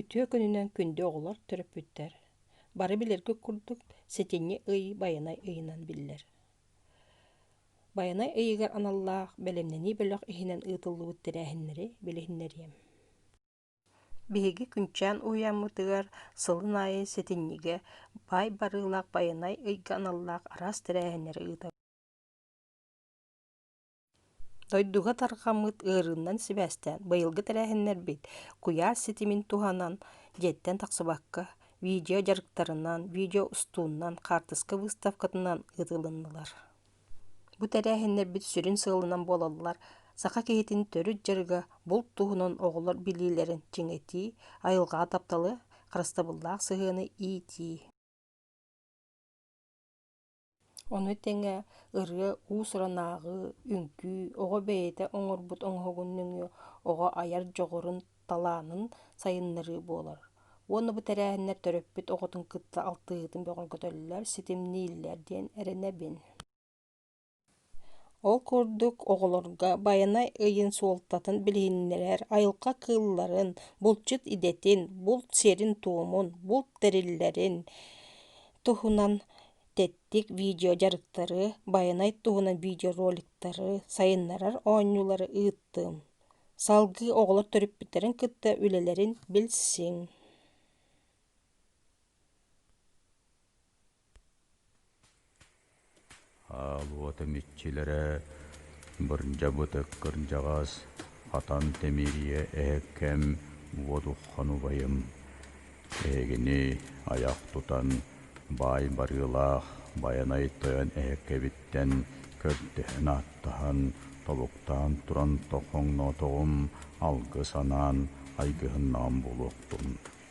Үтүө күнүнэн күндү оҕолор төрөппүттэр бары билэргит курдук сэтинньи ый байанай ыйынан биллэр. Байанай ыйыгар аналлаах бэлэмнэнии бөлөх иһинэн ыытыллыбыт тэрээһиннэри билиһиннэриэм. Биһиги күнчээн уһуйаммытыгар сылын аайы сэтинньигэ баай барыылаах байанай ыйга аналлаах араас тэрээһиннэри ыытабыт. Дойдуга тарҕаммыт ыарыыннан сибээстээн быйылгы тэрээһиннэрбит куйаас ситимин туһанан дьиэттэн тахсыбакка видео дьарыктарынан, видео устуунан, хаартыска выставкатынан ыытылыннылар. Бу тэрээһиннэрбит сүрүн сыалынан буолаллар саха киһитин төрүт дьарыга булт туһунан оҕолор билиилэрин чиҥэтии, айылҕаҕа тапталы, харыстабыллаах сыһыаны иитии. Ону тэҥэ ырыа уус-уран ааҕыы, үҥкүү, оҕо бэйэтэ оҥорбут оҥоһугун нөҥүө оҕо айар дьоҕурун, талаанын сайыннарыы буолар. Уонна бу тэрээһиннэр төрөппүт оҕотун кытта алтыһыытын бөҕөргөтөллөр, ситимнииллэр диэн эрэнэбин. Ол курдук, оҕолорго байанай ыйын суолтатын билиһиннэрэр, айылҕа кыылларын, булчут идэтин, булт сирин-туомун, булт тэриллэрин туһунан тэттик видеодьарыктары, байанай туһунан видеороликтары, сайыннарар оонньуулары ыыттым. Салгыы оҕолор төрөппүттэрин кытта үлэлэрин билсиҥ. Уота миччилэрэ бырдьабыт кырдьаҕас хатан тимирийэ эһэккэм уотухан убайым эһигини айах тутан баай барыылаах Байанай Тойон эһэккэбиттэн көрдөһөн ааттаһан тобуктаан туран тоҥноотоҕум алгыс анаан айгыһыннаҕым буолуохтун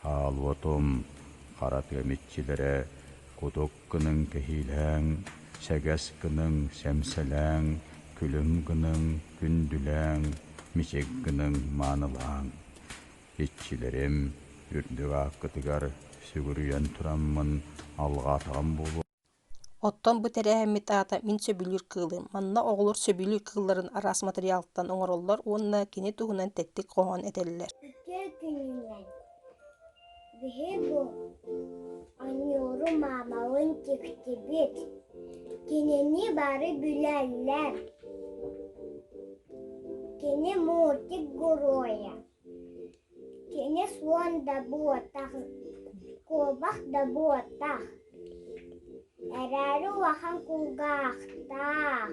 Хаалуотум, хара тыам иччилэрэ, кутук гыныҥ кэһиилээҥ, сэгэс гыныҥ, сэмсэлээҥ, күлүм гыныҥ, күндүлээҥ, мичик гыныҥ, маанылааҥ. Иччилэрим, үрдүк ааккытыгар сүгүрүйэн тураммын, алҕаатаҕым буолуо. Оттон бу тэрээһиммит аата мин сөбүлүүр кыылым. Манна оҕолор сөбүлүүр кыылларын араас матырыйаалтан оҥороллор уонна кини туһунан тэттик хоһоон этэллэр. Биһиги Аньууру маамалыын тиктибит. Кинини бары билэллэр. Кини мультик геройа. Кини суон да буотах, куобах да буотах, эрээри улахан кулгаахтаах.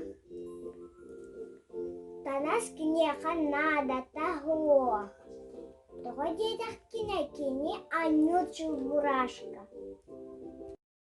Танас киниэхэ наадата суох. Тоҕо диэтэхкинэ кини анньыыр чулбураашка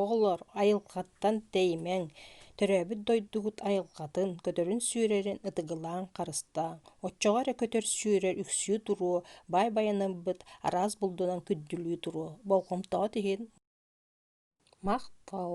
Оҕолор айылҕаттан тэйимэҥ, төрөөбүт дойдугут айылҕатын, көтөрүн сүөрэрин ытыгылааҥ, харыстааҥ. Оччоҕо эрэ көтөр сүөрэр үксүү туруо, баай байанарбыт араас булдунан күндүлүү туруо. Болҕомтоҕут иһин махтал.